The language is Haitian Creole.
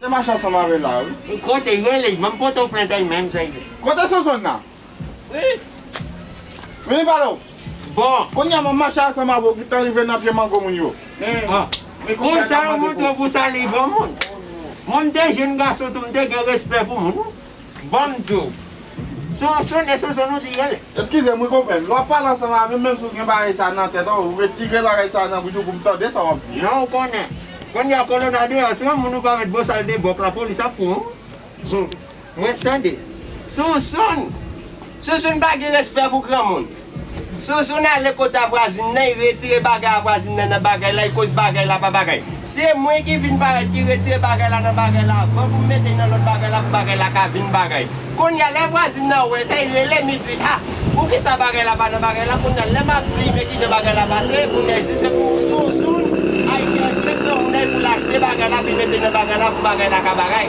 Te mache ansanm avè la wi. Ou kote ye li banm pote w plentay menm sa ye. Kote sonsonn nan? Wi. Vini pale w. Bon. Kounye a map mache ansanm avè w gintan rive nan pye mango moun yo. Men konsa yo montre w pou w sali granmoun. Mwen m te jenn gason tou m te gen respè pou moun. Bonjou. Sou yon sonde sou zon ou di ye le. Eskize m wi konprann. Lè w ap pale ansanm avè m menm si w gen bagay sa nan tèt ou, ou retire bagay sa nan bouch ou pou m tande sa w ap di. Non ou konnen. Kounye a kolona deyò si yon moun ou pa met bosal debòk lapolis ap pran w. Humm. Mwen tande. Sousoun! Sousoun pa gen respè pou granmoun. Zouzoun ale kot a vwazin nan y retire bagay a vwazin nan nan bagay la y koz bagay la pa bagay se mwen ki vin parèt ki retire bagay la nan bagay la avan pou m mete y nan lòt bagay la pou bagay la ka vin bagay kounya lè vwazin nan wè sa y rele m y di a poukisa bagay la pa nan bagay la kounya lè m ap di y men kijan bagay la pase kounya y di se pou zouzoun ay chèche granmoun nan y pou l achte bagay la pou y mete nan bagay la pou bagay la ka bagay.